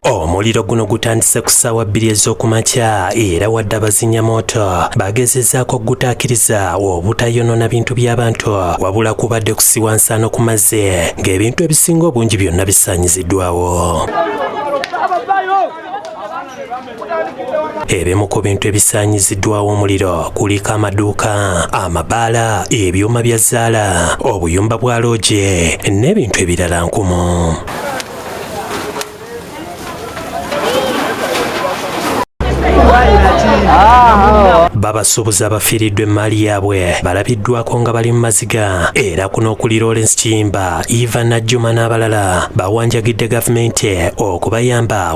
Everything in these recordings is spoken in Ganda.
omuliro guno gutandise ku ssaawa bbiri ez'okumakya era wadde abazinya mooto bagezezaako okugutaakiriza obutayonoona bintu by'abantu wabula kubadde kusiwa nsaano ku mazzi ng'ebintu ebisinga obungi byonna bisaanyiziddwawo Ebimu ku bintu ebisaanyiziddwawo omuliro kuliko amaduuka, amabaala, ebyuma bya zzaala, obuyumba bwa looje n'ebintu ebirala nkumu. babasuubuzi abafiiriddwa emmaali yaabwe balabiddwako nga bali mu maziga era kuno okuli lawrence kiyimba eva najjuma n'abalala bawanjagidde gavumenti okubayamba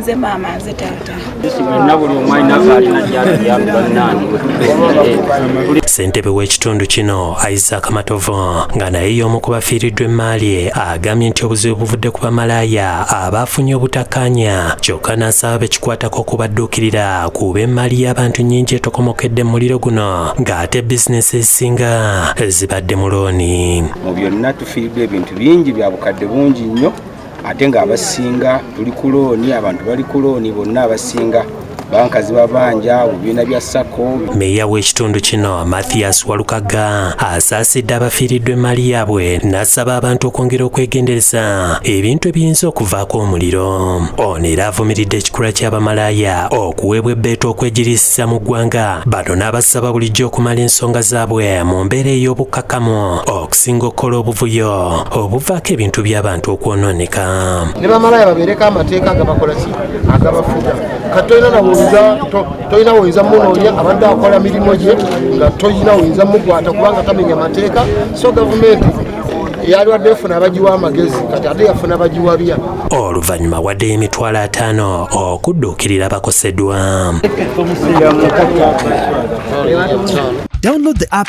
nze maama nze taata ssentebe w'ekitundu kino isaac matovu nga naye y'omu ku bafiiriddwa emmaali e, agambye nti obuzibu buvudde ku bamalaaya abaafunye obutakkaanya kyokka n'asaba bekikwatako okubadduukirira kuba emmaali y'abantu nnyingi etokomokedde mu muliro guno ng'ate bizinesi ezisinga zibadde mu looni mu byonna tufiiriddwa ebintu bingi bya bukadde bungi nnyo ate nga abasinga tuli ku looni abantu bali ku looni bonna abasinga banka zibabanja mu bibiina bya sako meeya w'ekitundu kino mathias walukaga asaasidde abafiiriddwa emmaali yaabwe n'asaba abantu okwongera okwegendereza ebintu ebiyinza okuvaako omuliro ono era avumiridde ekikula ky'abamalaaya okuweebwa ebbeeta okwegirisiza mu ggwanga bano n'abasaba bulijjo okumala ensonga zaabwe mu mbeera ey'obukkakkamu okusinga okukola obuvuyo obuvaako ebintu by'abantu okwonooneka ne bamalaya babeereko amateeka agabakola ki agabafuga kati tolina nawoyinza tolina woyinza munoonya abadde akola mirimu gye nga tolina woyinza mukwata kubanga tamenya amateeka so gavumenti yalwadde efuna abagiwa amagezi kati ate yafuna bagiwa bya oluvannyuma wadde emitwalo ataano okudduukirira bakosedwa download the app